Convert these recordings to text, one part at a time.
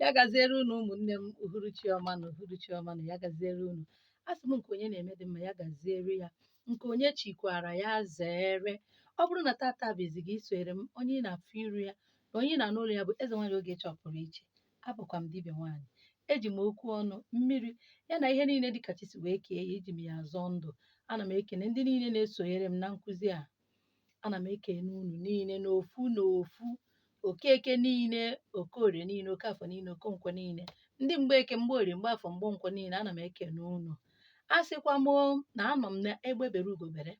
ya gaziere unu ụmụnne m uhuruchi ọma nụ uhuruchi ọma nụ ya gaziere unu asị m nke onye na-eme dị mma ya gaziere ya nke onye chikwara ya zere ọ bụrụ na tata bụ izizi gị isonyere m onye ị na-afụ iru ya na onye ị na-anụ olu ya bụ eze nwaanyị ogechi ọpụrụ iche abụkwa m dibịa nwaanyị eji m okwu ọnụ mmiri ya na ihe niile dịka chi si wee kee ya eji m ya azọ ndụ ana m ekene ndị niile na-esonyere m na nkụzi a ana m ekene unu niile n'ofu n'ofu okeke niile okorie niile okafọ niile okonkwọ niile ndị mgbeke mgbeorie mgbeafọ mgbenkwọ niile ana m ekene unu asịkwa m o, na anọ m na egbe bere ugo bere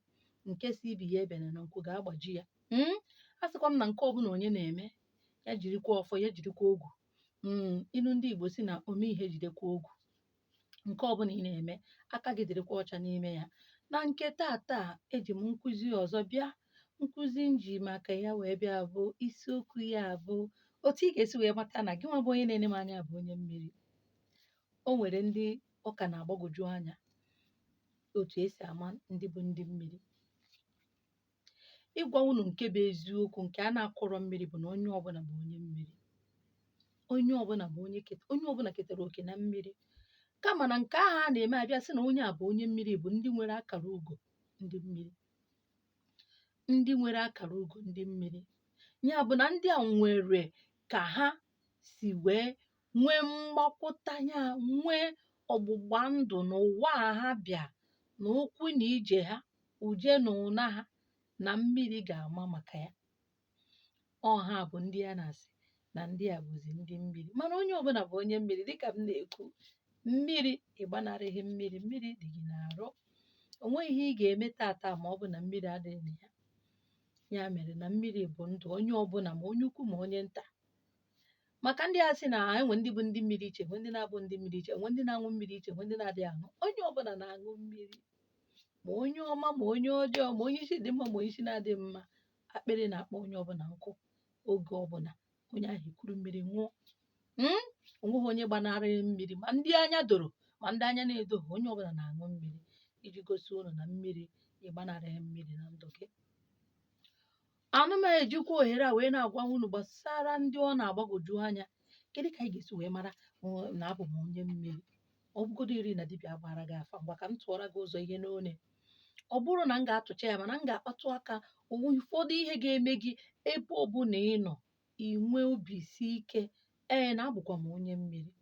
nke sị ibe ya ebena na nku ga-agbaji ya Mm, asịkwa m na nke ọbụla onye na-eme ya jirikwa ọfọ ya jirikwa ogu Mm, ilu ndị igbo sị na ome ihe jidekwa ogu ǹke ọbụnà ị nà-ème aka gị dị̀rịkwa ọcha n'ime ya na ǹke taa taa ejì m nkuzi ọ̀zọ bịa nkuzi njì màkà ya wèe bịa bụ isi okwu̇ ya bụ òtù ị gà-èsi wèe mata nà gị nwa bụ onye na-ene m anya bụ̀ onye mmiri o nwèrè ndị ọ kà nà-àgbagòju anyȧ òtù e sì àma ndị bụ ndị mmiri ịgwa unu nke bụ eziokwu nke a na-akụrọ mmiri bụ na onye ọbụla bụ onye mmiri onye ọbụla bụ onye ket onye ọbụla ketara oke na mmiri kama na nke ahụ a na-eme abịa sị na onye a bụ onye mmiri bụ ndị nwere akara ugo ndị mmiri ndị nwere akara ugo ndị mmiri ya bụ na ndị a nwere ka ha si wee nwee mgbakwụta ya nwee ọgbụgba ndụ na ụwa a ha bịa na ụkwụ na ije ha uje na ụna ha na mmiri ga-ama maka ya ọ ha bụ ndị a na-asị na ndị a bụzi ndị mmiri mana onye ọbụla bụ onye mmiri dịka m na-ekwu mmiri ị gbanarịghị mmiri mmiri dị gị n'arụ o nweghị ihe ị ga-eme tata ma ọ bụ na mmiri adịghị na ya ya mere na mmiri bụ ndụ onye ọbụla ma onye ukwu ma onye nta maka ndị a sị na e nwe ndị bụ ndị mmiri iche nwe ndị na-abụghị ndị mmiri iche nwe ndị na-aṅụ mmiri iche nwe ndị na-adịghị aṅụ onye ọbụla na-aṅụ mmiri ma onye ọma ma onye ọjọọ ma onye isi dị mma ma onye isi na-adịghị mma akpịrị na-akpọ onye ọbụla nkụ oge ọbụla onye ahụ ekuru mmiri ṅụọ Mm? o nweghị onye gbanarịrị mmiri ma ndị anya doro ma ndị anya na-edoghị onye ọbụla na-aṅụ mmiri iji gosi unu na mmiri ị gbanarịghị mmiri na ndụ gị ana m ejikwa ohere a wee na-agwa unu gbasara ndị ọ na-agbagwoju anya kedu ka anyị ga-esi wee mara uh, na abụ m onye mmiri ọ bụgoduri na dibịa gbara gị afa ngwa ka m tụọra gị ụzọ ihe n'one ọ bụrọ na m ga-atụcha ya mana m ga-akpatụ aka ụfọdụ ihe ga-eme gị ebe ọ bụla ị nọ i nwee obi isi ike ee na abụkwa m onye mmiri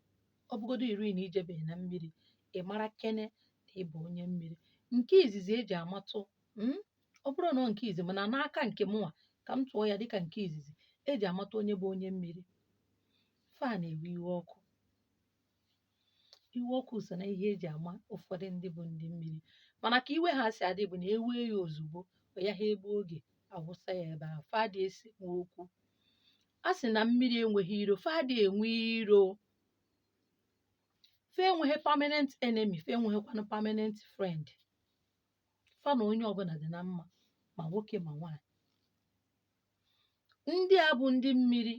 ọ bụgoduri na i jebeghị na mmiri ị mara kene na ị bụ onye mmiri nke izizi eji amatụ mm, ọ bụrọ nọọ nke izi mana n'aka nke mụnwa ka m tụọ ya dịka nke izizi eji amata onye bụ onye mmiri fa na-ewe iwe ọkụ iwe ọkụ so na ihe eji ama ụfọdụ ndị bụ ndị mmiri mana ka iwe ha si adị bụ na ewee ya ozugbo ọ yaha egbu oge awụsa ya ebe ahụ fa adị esi nwe okwu a sị na mmiri enweghị iro fa adị enwe iro fa enweghị permanent enemy fa enweghịkwanụ permanent friend fa na onye ọbụla dị na mma ma nwoke ma nwaanyị ndị a bụ ndị mmiri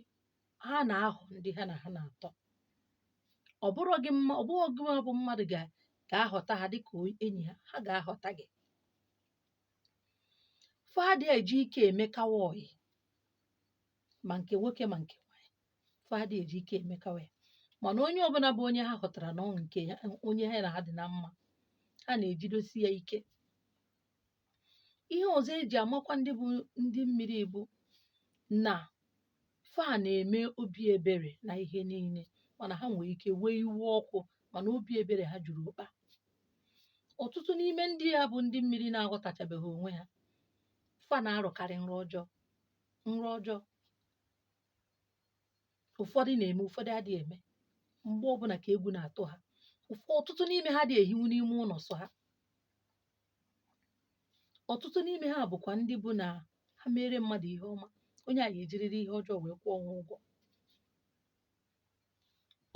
ha na-ahọ ndị ha na ha na-atọ ọ bụrọ gịnwa ọ bụghị gịnwa bụ mmadụ ga ga-ahọta ha dịka o- enyi ha ha ga-ahọta gị fa adị eji ike emekawa ọyị ma nke nwoke ma nke nwaanyị fa adịghị eji ike emekawa ya mana onye ọbụla bụ onye ha hụtara na ọ nke ya onye ha na ha dị na mma ha na-ejidosi ya ike ihe ọzọ eji amakwa ndị bụ ndị mmiri bụ na fa na-eme obi ebere na ihe niile mana ha nwere ike wee iwe ọkụ mana obi ebere ha juru ụkpa ọtụtụ n'ime ndị a bụ ndị mmiri na-aghọtachabeghị onwe ha fa na-arọkarị nrọ ọjọọ nrọ ọjọọ ụfọdụ na-eme ụfọdụ adịghị eme mgbe ọbụla ka egwu na-atụ ha ụfọ ọtụtụ n'ime ha adịghị ehinwu n'ime ụlọ sọ ha ọtụtụ n'ime ha bụkwa ndị bụ na ha mere mmadụ ihe ọma onye a ga-ejiriri ihe ọjọọ wee kwụọ ha ụgwọ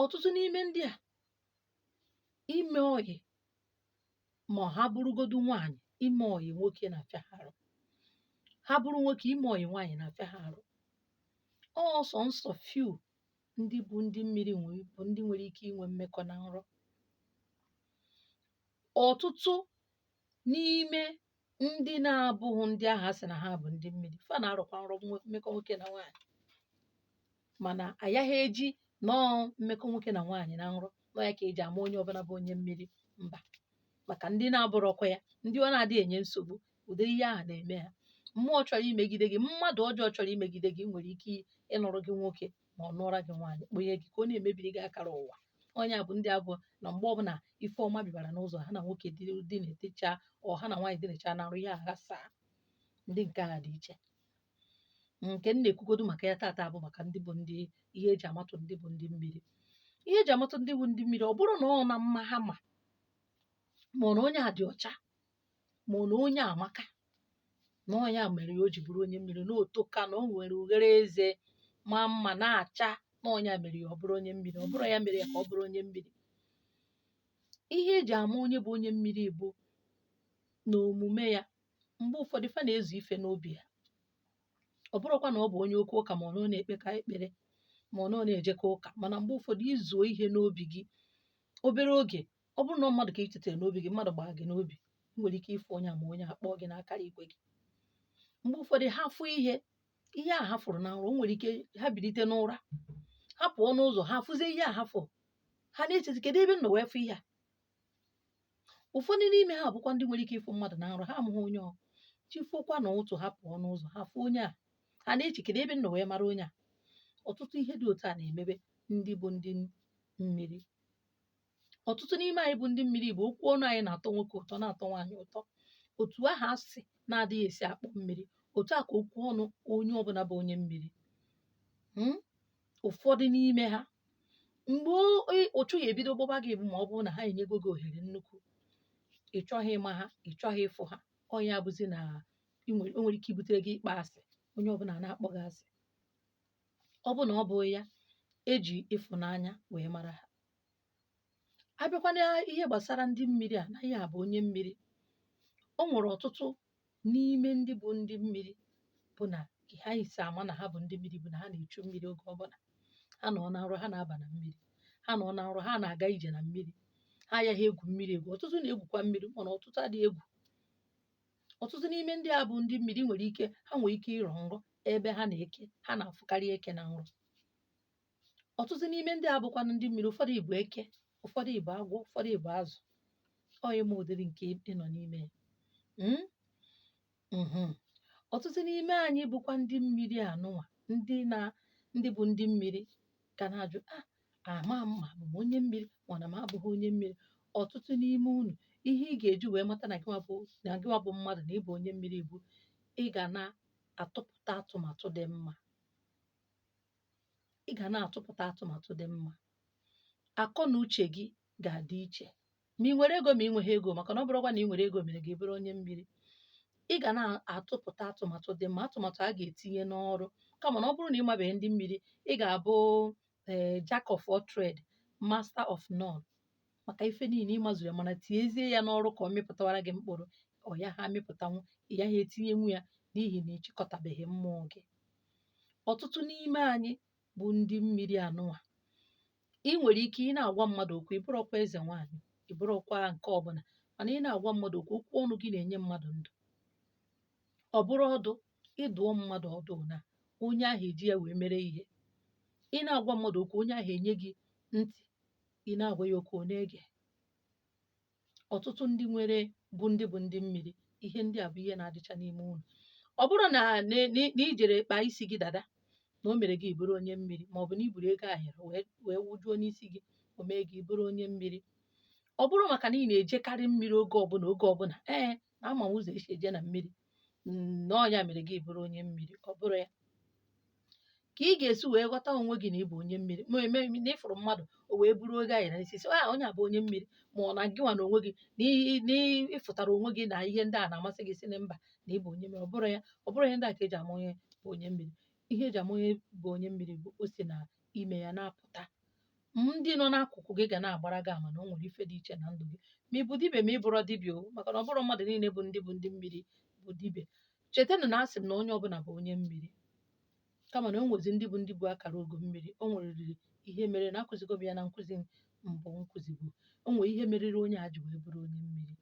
ọtụtụ n'ime ndị a ime ọyị ma ha bụrụgodu nwaanyị ime ọyị nwoke na-afịa ha arụ ha bụrụ nwoke ime ọyị nwaanyị na-afịa ha arụ ọ sọnsọ few ndị bụ ndị mmiri bụ ndị nwere ike inwe mmekọ na nrọ ọtụtụ n'ime ndị na-abụghị ndị ahụ a sị na ha bụ ndị mmiri fa na-arọkwa nrọ nwe- mmekọ nwoke na nwaanyị mana agaghị eji nọọ mmekọ nwoke na nwaanyị na nrọ na ọ ya ka eji ama onye ọbụla bụ onye mmiri mba maka ndị na-abụrọkwa ya ndị ọ na-adịghị enye nsogbu ụdị ihe ahụ na-eme ha mmụọ chọrọ imegide gị mmadụ ọjọọ chọrọ imegide gị nwere ike ịnụrụ gị nwoke ma ọ nụọra gị nwaanyị kpọnye gị ka ọ na-emebiri gị akara ụwa ọ nya bụ ndị a bụ na mgbe ọbụla ife ọma bịara n'ụzọ ha na nwoke di dinecha ọ ha na nwaanyị dinecha na nrọ ya aghasaa ndị nke a dị iche nke m na-ekwugodu maka ya taata bụ maka ndị bụ ndị ihe eji amatụ ndị bụ ndị mmiri ihe eji amatụ ndị bụ ndị mmiri ọ bụrọ na ọ na mma ha ma ma ọ na onye a dị ọcha ma na onye a amaka na ọ nya mere ya o ji bụrụ onye mmiri na o toka na o nwere ughere eze ma mma na-acha na ọ nya mere ya ọ bụrụ onye mmiri ọ bụrọ ya mere ya ka ọ bụrụ onye mmiri ihe eji ama onye bụ onye mmiri bụ na omume ya mgbe ụfọdụ fa na-ezu ife n'obi ya ọ bụrụkwa na ọ bụ onye oke ụka ma ọ na ọ na-ekpeka ekpere ma ọ na ọ na-ejeka ụka mana mgbe ụfọdụ i zuo ihe n'obi gị obere oge ọ bụrụ na mmadụ ka ị chetara n'obi gị mmadụ gbaa gị n'obi ị nwere ike ịfụ onye a ma onye a kpọọ gị n'akara igwe gị mgbe ụfọdụ ha fụ ihe ihe a ha fụrụ na nrọ o nwere ike ha bilite n'ụra ha pụọ n'ụzọ ha fụzie ihe a ha fụrụ ha na-echezi kedu ebe m nọ wee fụ ihe a ụfọdụ n'ime ha bụkwa ndị nwere ike ịfụ mmadụ na nrọ ha amaghị onye ọ chi fokwa na ụtụtụ ha pụọ n'ụzọ ha fụ onye a ha na-eche kedu ebe m nọ wee mara onye a ọtụtụ ihe dị otu a na-emebe ndị bụ ndị mmiri ọtụtụ n'ime anyị bụ ndị mmiri bụ okwu ọnụ anyị na-atọ nwoke ụtọ na-atọ nwaanyị ụtọ otu ahụ asị na-adịghị esi akpọ mmiri otu a ka okwu ọnụ onye ọbụla bụ onye mmiri hmm? ụfọdụ n'ime ha mgbe uchu ya-ebido gbọba gị bụ ma ọ bụrụ na ha enyego gị ohere nnukwu ị chọghị ịma ha ị chọghị ịfụ ha ọ nya bụzi na o nwere ike ibutere gị ịkpọ asị onye ọbụla na-akpọ gị asị ọ bụ na ọ bụghị ya eji ịfụnanya wee mara ha abịakwa na ihe gbàsara ndị mmiri à nà onye à bụ̀ onye mmiri o nwèrè ọ̀tụtụ n'ime ndị bụ̀ ndị mmiri bụ nà kà ha ya-èsì àma nà ha bụ̀ ndị mmiri bụ̀ nà ha nà-èchu mmiri ogè ọ bụlà ha nọ nà nrọ ha nà-abà nà mmiri ha nọ nà nrọ ha nà-àga ijè nà mmiri ha ya nà-egwù mmiri ègwù ọ̀tụtụ nà-egwùkwa mmiri mànà ọ̀tụtụ adịghị egwù ọ̀tụtụ n'ime ndị à bụ̀ ndị mmiri nwèrè ike ha nwèrè ike ịrọ̀ nrọ ebe ha nà eke ha nà-àfụkarị eke nà nrọ ọtụtụ n'ime ndị a bụkwanụ ndị mmiri ụfọdụ ị bụ eke ụfọdụ ị bụ agwọ ụfọdụ ị bụ azụ ọ ịma ụdịrị nke ị nọ n'ime ya Mm? Mhm. ọtụtụ n'ime anyị bụkwa ndị mmiri anụnwa ndị na ndị bụ ndị mmiri ka na-ajụ a ama m ma abụ m onye mmiri ma na m abụghị onye mmiri ọtụtụ n'ime unu ihe ị ga-eji wee mata na gịnwa bụ na gịnwa bụ mmadụ na ị bụ onye mmiri bụ ị ga na-atụpụta atụmatụ dị mma ị ga na-atụpụta atụmatụ dị mma akọ na uche gị ga-adị iche ma ị nwere ego ma ị nweghị ego maka na ọ bụrọkwa na ị nwere ego mere gị bụrụ onye mmiri ị ga na-atụpụta atụmatụ dị mma atụmatụ a ga-etinye n'ọrụ kama na ọ bụrụ na ị mabeghị ndị mmiri ị ga-abụ ee eh, jack of all trade master of none maka ife niile ịmazuru ya mana tinyezie ya n'ọrụ ka ọ mịpụtawara gị mkpụrụ ọ yaha amịpụtanwu ị gaghị etinyenwu ya n'ihi na ịchịkọtabeghị mmụọ gị ọtụtụ n'ime anyị bụ ndị mmiri anụwa ị nwere ike ị na-agwa mmadụ okwu ị bụrọkwa eze nwaanyị ị bụrọkwa nke ọbụla mana ị na-agwa mmadụ okwu okwu ọnụ gị na-enye mmadụ ndụ ọ bụrụ ọdụ ịdụọ mmadụ ọdụ na onye ahụ eji ya wee mere ihe ị na-agwa mmadụ okwu onye ahụ enye gị ntị ị na-agwa ya okwu ọ na-ege ọtụtụ ndị nwere bụ ndị bụ ndị mmiri ihe ndị a bụ ihe na-adịcha n'ime unu ọ bụrọ na na- na- na ijere kpaa isi gị dada na o mere gị ị bụrụ onye mmiri ma ọ bụ na iburu ego ayọrọ wee wee wụjuo n'isi gị o mee gị ị bụrụ onye mmiri ọ bụrọ maka na ị na-ejekarị mmiri oge ọbụla oge ọbụla ee na ama m ụzọ esi eje na mmiri mm, na ọ nya mere gị bụrụ onye mmiri ọ bụrọ ya ka ị ga-esi wee ghọta onwe gị na ịbụ onye mmiri ma eme na ịfụrụ mmadụ o wee buru ego ayọ na isi sị "Ah, onye a bụ onye mmiri ma ọ na gịnwa na onwe gị na ị- na ịfụtara onwe gị na ihe ndị a na-amasị gị sị na mba na ịbụ onye mmiri ọ bụrọ ya ọ bụrọ ihe ndị a ka eji ama onye bụ onye mmiri ihe eji ama onye bụ onye mmiri bụ o si na ime ya na-apụta ndị nọ n'akụkụ gị ga na-agbara gị ama na o nwere ife dị iche na ndụ gị ma ị bụ dibịa ma ị bụrọ dibịa o maka na ọ bụrọ mmadụ niile bụ ndị bụ ndị mmiri bụ dibịa chetanụ na asị m na onye ọbụla bụ onye mmiri kama na o nwezi ndị bụ ndị bụ akara ogo mmiri o nweriri ihe mere na akụzigo m ya na nkụzi mbụ m kụzibu o nwere ihe meriri onye a ji wee bụrụ onye mmiri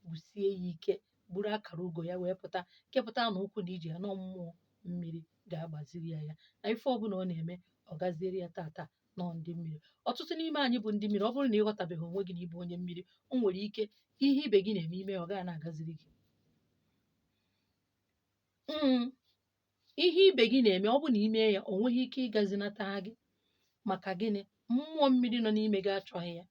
bụsie ya ike bụrụ akara ugo ya wee pụta kepụta na ụkwụ na ije ya na mmụọ mmiri ga-agbaziri ya ya na ife ọbụla ọ na-eme ọ gaziere ya tata nọ ndị mmiri ọtụtụ n'ime anyị bụ ndị mmiri ọ bụrụ na ịghọtabeghị onwe gị na ịbụ onye mmiri o nwere ike ihe ibe gị na-eme ime ọ gaghị na-agaziri gị Mm. ihe ibe gị na-eme ọ bụ na i mee ya o nweghị ike ịgazinata gị maka gịnị mmụọ mmiri nọ n'ime gị achọghị ya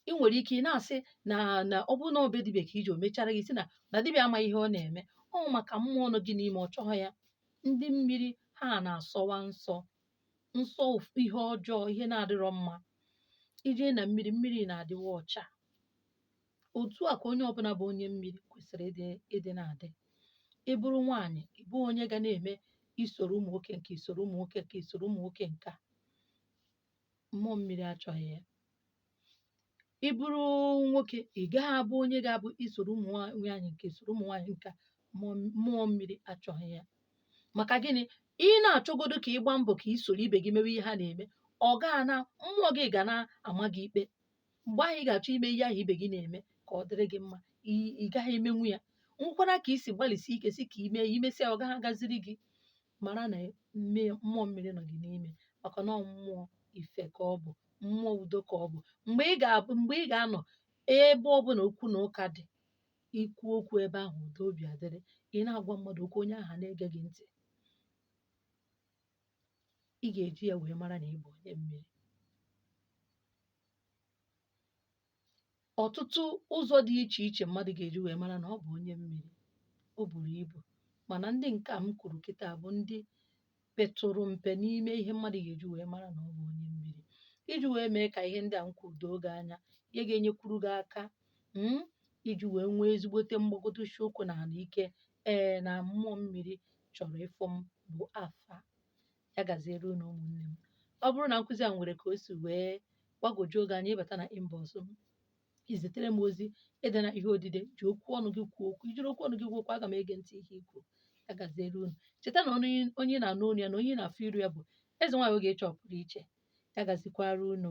ị nwere ike ị na-asị na na ọ bụrụ na ọ be dibịa ka i je o mechara gị sị na na dibịa amaghị ihe ọ na-eme ọ maka mmụọ nọ gị n'ime ọ chọghị ya ndị mmiri ha na-asọwa nsọ nsọ ụf- ihe ọjọọ ihe na-adịrọ mma i jee na mmiri mmiri na-adịwa ọcha otu a ka onye ọbụla bụ onye mmiri kwesịrị ịdị ịdị na-adị ị bụrụ nwaanyị ị bụ onye ga na-eme isoro ụmụ nwoke nke isoro ụmụ nwoke nke isoro ụmụ nwoke nke a mmụọ mmiri achọghị ya ị bụrụ nwoke ị gaghị abụ onye ga-abụ i soro ụmụ nwaanyị nke i soro ụmụ nwaanyị nke a, mmụọ mmụọ mmiri achọghị ya maka gịnị ị na-achọgodo ka ị gbaa mbọ ka ị soro ibe gị mewe ihe ha na-eme ọ gaa na mmụọ gị ga na-ama gị ikpe mgbe ahụ ị ga-achọ ime ihe ahụ ibe gị na-eme ka ọ dịrị gị mma ị ị gaghị emenwu ya nwekwara ka i si gbalịsie ike sị ka i mee ya i mesịa ọ gaghị agaziri gị mara na mmụọ mmiri nọ gị n'ime maka na ọ mmụọ ife ka ọ bụ mmụọ udo ka ọ bụ mgbe ị ga-anọ ebe ọbụla okwu na ụka dị i kwuo okwu ebe ahụ udo obi adịrị ị na-agwa mmadụ okwu onye ahụ na-ege gị ntị ị ga-eji ya wee mara na ị bụ onye mmiri ọtụtụ ụzọ dị iche iche mmadụ ga-eji wee mara na ọ bụ onye mmiri o buru ibu mana ndị nke a m kwuru kịta bụ ndị petụrụ mpe n'ime ihe mmadụ ga-eji wee mara na ọ bụ onye mmiri iji wee mee ka ihe ndị a m kwuru doo gị anya ihe ga-enyekwuru gị aka mm, iji wee nwee ezigbote mgbagodosi ụkwụ na ala ike ee na mmụọ mmiri chọrọ ịfụ m bụ afa ya gaziere unu ụmụnne m ọ bụrụ na nkụzi a nwere ka o si wee gbagwojuo gị anya ị bata na inbox m i zitere m ozi edena ihe odide ji okwu ọnụ gị kwuo okwu i jiri okwu ọnụ gị kwuo okwu aga m ege ntị ihe i kwu ya gaziere unu cheta na onye na-anụ olu ya na onye na-afụ iru ya bụ eze nwaanyị ogechi ọ pụrụ iche ya gazikwara unu